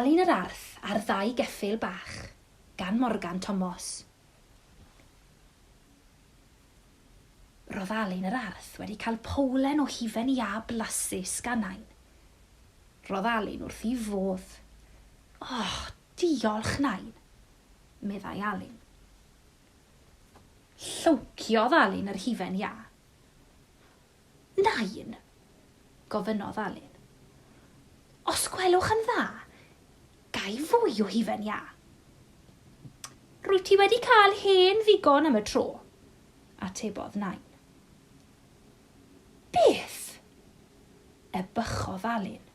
Alun yr Arth a'r Ddau Geffyl Bach, gan Morgan Tomos. Roedd Alun yr Arth wedi cael powlen o hufen iâ blasus gan Nain. Roedd Alun wrth ei fodd. O, diolch, Nain! meddai Alun. Llowciodd Alun yr hufen iâ. Nain? gofynnodd Alun. Os gwelwch yn dda, ga i fwy o hufen iâ? Rwyt ti wedi cael hen ddigon am y tro, atebodd Nain. Beth? ebychodd Alun.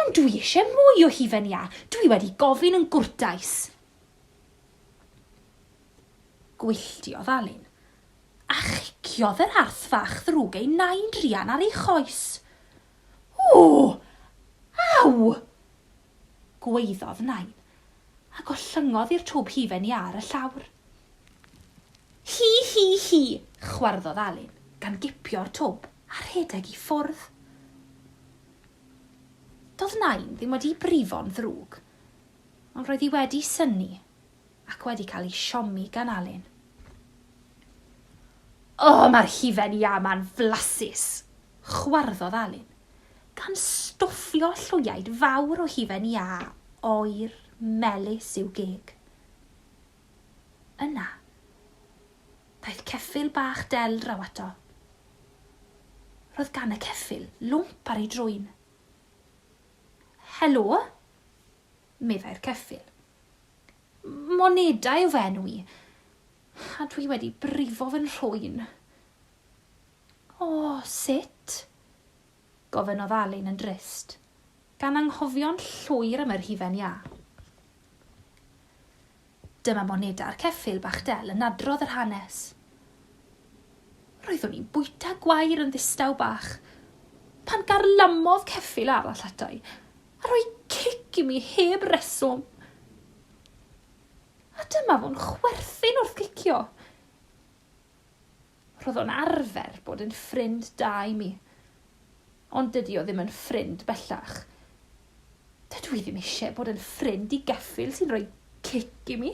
Ond dwi eisiau mwy o hufen iâ, dwi wedi gofyn yn gwrtais. Gwylltiodd Alun, a chiciodd yr arth fach ddrwg ei nain druan ar ei choes. Ww! Aw! gwaeddodd nain, a gollyngodd i'r twb hufen iâ ar y llawr. Hi, hi, hi! chwarddodd Alun, gan gipio'r twb a rhedeg i ffwrdd. Doedd nain ddim wedi brifo'n ddrwg. Ond roedd hi wedi synnu ac wedi cael ei siomi gan Alun. O, mae'r hufen iâ ma'n flasus! chwarddodd Alun, gan stwffio llwyaid fawr o hufen iâ oer melys i'w geg. Yna, daeth ceffyl bach del draw ato. Roedd gan y ceffyl lwmp ar ei drwyn. Helo, meddai'r ceffyl. Moneda yw fy enw i, a dwi wedi brifo fy nhrwyn. O, sut? gofynnodd Alun yn drist, gan anghofio'n llwyr am yr hufen iâ. Dyma moneda ar ceffyl bach del yn adrodd yr hanes. Roeddwn i'n bwyta gwair yn ddistaw bach pan garlamodd ceffyl arall atai a rhoi cic i mi heb reswm. A dyma fo'n chwerthin wrth gicio. Roedd o'n arfer bod yn ffrind da i mi. Ond dydi o ddim yn ffrind bellach. Dydw i ddim eisiau bod yn ffrind i geffyl sy'n rhoi cic i mi.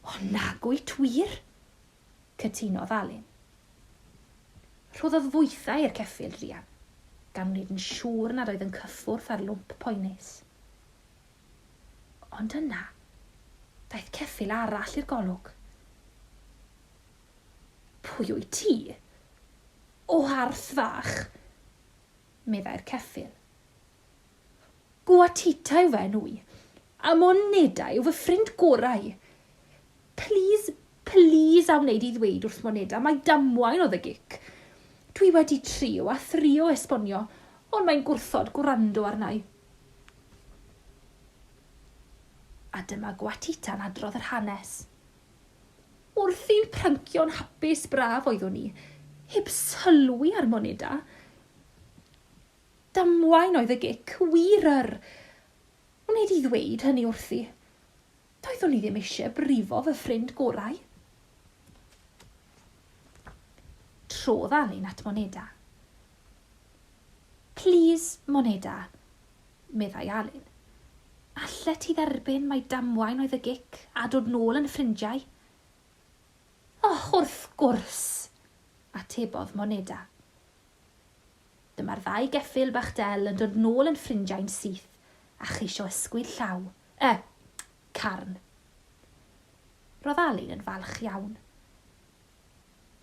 O nag wyt wir? cytunodd Alun. Rhoddodd fwythau i'r ceffyl Rhian, gan wneud yn siŵr nad oedd yn cyffwrdd â'r lwmp poenus. Ond yna, daeth ceffyl arall i'r golwg. Pwy wyt ti? O Arth Fach, meddai'r ceffyl. Gwatita yw fy enw i, a Moneda yw fy ffrind gorau. Plîs, plîs a wneud i ddweud wrth Moneda mai damwain oedd y gic. Dwi wedi trio a thrio esbonio, ond mae'n gwrthod gwrando arna i. A dyma Gwatita'n adrodd yr hanes. Wrth i'n pryncio'n hapus braf oeddwn i, heb sylwi ar moneda. Damwain oedd y gic, wir yr! Wnei di ddweud hynny wrthi? Doeddwn i ddim eisiau brifo fy ffrind gorau. Trodd Alun at Moneda. Plîs, Moneda, meddai Alun. Allet ti dderbyn mai damwain oedd y gic a dod nôl yn ffrindiau? Och, wrth gwrs! atebodd Moneda. Dyma'r ddau geffyl bach del yn dod nôl yn ffrindiau'n syth a cheisio ysgwyd llaw, y, carn. Roedd Alun yn falch iawn.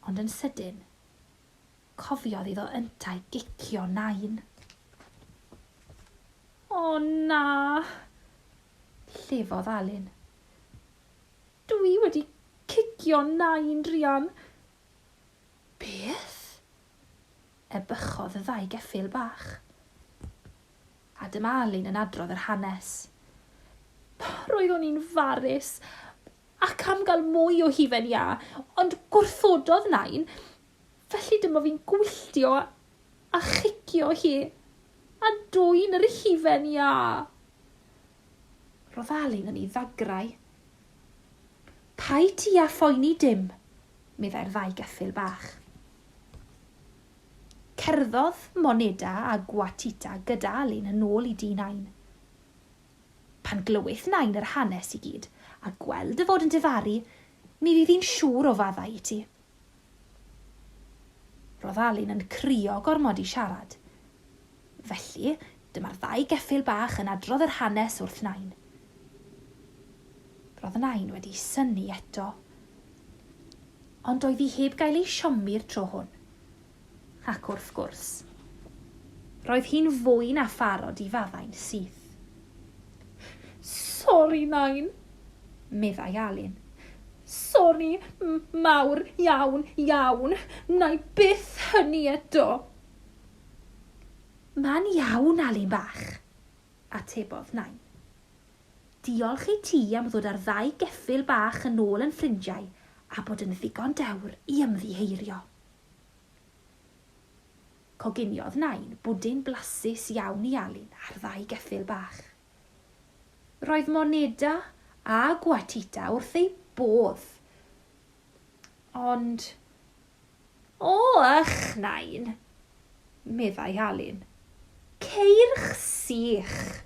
Ond yn sydyn, cofiodd iddo yntau gicio Nain. O na! llefodd Alun. Dw i wedi cicio Nain, druan. Beth? Ebychodd y ddau geffyl bach. A dyma Alun yn adrodd yr hanes. Roeddwn i'n farus ac am gael mwy o hufen iâ, ond gwrthododd Nain, felly dyma fi'n gwylltio a chicio hi, a dwyn yr hufen iâ! Roedd Alun yn ei ddagrau. Paid ti â phoeni dim, meddai'r ddau geffyl bach. Cerddodd Moneda a Gwatita gyda Alun yn ôl i dŷ Nain. Pan glywith Nain yr hanes i gyd, a gweld dy fod yn difaru, mi fydd hi'n siŵr o faddau i ti. Roedd Alun yn crio gormod i siarad, Felly, dyma'r ddau geffyl bach yn adrodd yr hanes wrth Nain. Roedd Nain wedi synnu eto. Ond doedd hi heb gael ei siomi'r tro hwn. Ac wrth gwrs, roedd hi'n fwy na pharod i faddau'n syth. Sori, Nain, meddai Alun. Sori mawr iawn, iawn, wna i byth hynny eto. Mae'n iawn, Alun bach, atebodd Nain. Diolch i ti am ddod â'r ddau geffyl bach yn ôl yn ffrindiau a bod yn ddigon dewr i ymddiheurio. Coginiodd Nain bwdin blasus iawn i Alun a'r ddau geffyl bach. Roedd Moneda a Gwatita wrth eu bodd, ond O, ych, Nain! meddai Alun. Ceirch sych!